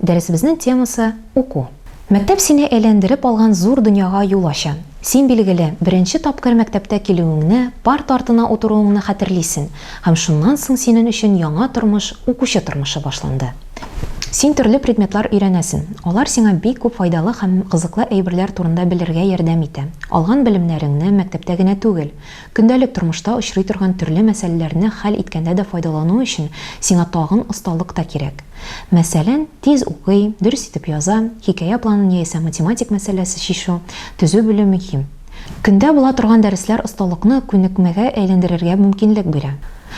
Дәресебезнең темасы, уку. Мәктәп сине әйләндереп алган зур дөньяга юл ача. Син, билгеле, беренче тапкыр мәктәптә килүеңне, парта артына утыруыңны хәтерлисең, һәм шуннан соң синен өчен яңа тормыш, укучы тормышы башланды. Син төрле предметлар өйрәнәсен. Алар сиңа бик күп файдалы һәм кызыклы әйберләр турында белергә ярдәм итә. Алган белемнәреңне мәктәптә генә түгел, Көндәлек тормышта очрый торган төрле мәсьәләләрне хәл иткәндә дә файдалану өчен сиңа тагын осталык та кирәк. Мәсәлән, тиз укый, дөрес итеп яза, хикәя планын яисә математик мәсьәләсе чишү, төзү белү мөһим. Көндә була торган дәресләр осталыкны күнекмәгә әйләндерергә мөмкинлек бирә.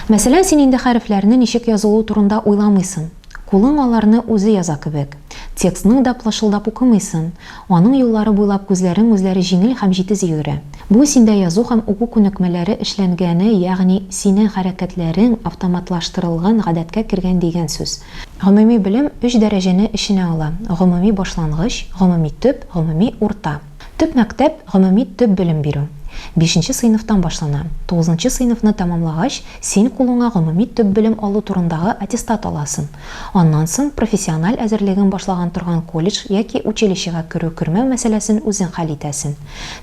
Мәсәлән, син инде хәрефләрне ничек язылуы турында уйламыйсың, Кулың аларны үзе яза кебек. Текстның да плышылдап укымыйсын. Аның юллары буйлап күзләрең үзләре җиңел һәм җитез йөгерә. Бу синдә язу һәм уку күнекмәләре эшләнгәне, ягъни синең хәрәкәтләрең автоматлаштырылган, гадәткә кергән дигән сүз. Гомуми белем өч дәрәҗәне эченә ала, гомуми башлангыч, гомуми төп, гомуми урта. Төп мәктәп, гомуми төп белем бирү. Бишенче сыйныфтан башлана. Тугызынчы сыйныфны тәмамлагач, син кулыңа гомуми төп белем алу турындагы аттестат аласын. Аннан соң профессиональ әзерлеген башлаган торган колледж яки училищега керү-кермәү мәсьәләсен үзең хәл итәсен.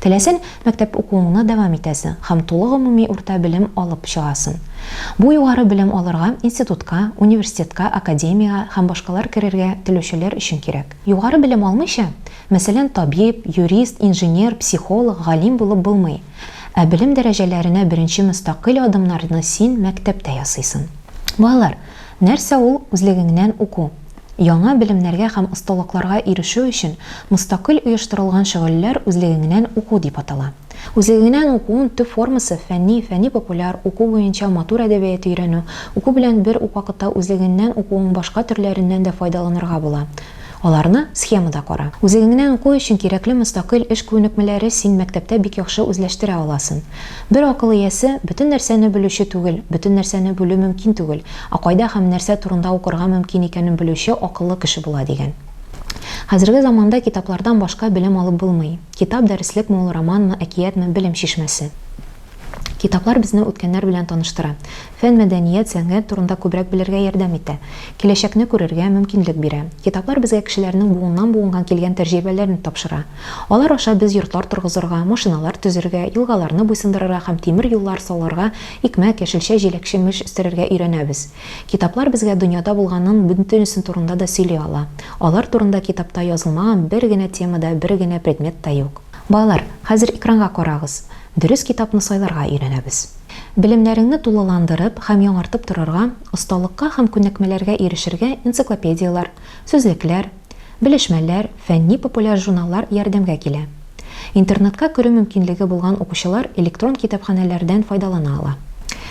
Теләсән, мәктәп укуыңны дәвам итәсен һәм тулы гомуми урта белем алып чыгасын. Бу югары белем алырга институтка, университетка, академиягә һәм башкалар керергә телүчеләр өчен кирәк. Югары белем алмыйча, Мәсәлән, табиб, юрист, инженер, психолог, галим булып булмый. Ә белем дәрәҗәләренә беренче мөстәкыйль адымнарны син мәктәптә ясыйсын. Балалар, нәрсә ул үзлегеңнән уку? Яңа белемнәргә һәм осталыкларга ирешү өчен мөстәкыйль оештырылган шөгыльләр үзлегеңнән уку дип атала. Үзлегеңнән укуын төп формасы, фәнни, фәнни-популяр, уку буенча матур әдәбият өйрәнү, уку белән бер үк вакытта үзлегеңнән укуың башка төрләреннән дә файдаланырга була, Аларны схемада кара. Үзегеңне аңку өчен кирәкле мөстәкыйль эш күнекмәләре син мәктәптә бик яхшы үзләштерә аласын. Бер акыл иясе бөтен нәрсәне белүче түгел, бөтен нәрсәне белү мөмкин түгел, ә кайда һәм нәрсә турында укырга мөмкин икәнен белүче акыллы кеше була дигән. Хәзерге заманда китаплардан башка белем алып булмый. Китап дәреслек ме ул, романмы, әкиятме, белем чишмәсе. Китаплар безне үткәннәр белән таныштыра, фән, мәдәният, сәнгать турында күбрәк белергә ярдәм итә, киләчәкне күрергә мөмкинлек бирә. Китаплар безгә кешеләрнең буыннан-буынга килгән тәҗрибәләрен тапшыра. Алар аша без йортлар торгызырга, машиналар төзергә, елгаларны буйсындырырга һәм тимер юллар салырга, икмәк, яшелчә, җиләк-җимеш үстерергә өйрәнәбез. Китаплар безгә дөньяда булганның бөтенесе турында да сөйли ала. Алар турында китапта язылмаган бер генә тема да, бер генә предмет та юк. Балалар, хәзер экранга карагыз. Дөрес китапны сайларга өйрәнәбез. Белемнәреңне тулыландырып һәм яңартып торырга, осталыкка һәм күнекмәләргә ирешергә энциклопедияләр, сүзлекләр, белешмәләр, фәнни-популяр журналлар ярдәмгә килә. Интернетка керү мөмкинлеге булган укучылар электрон китапханәләрдән файдалана ала.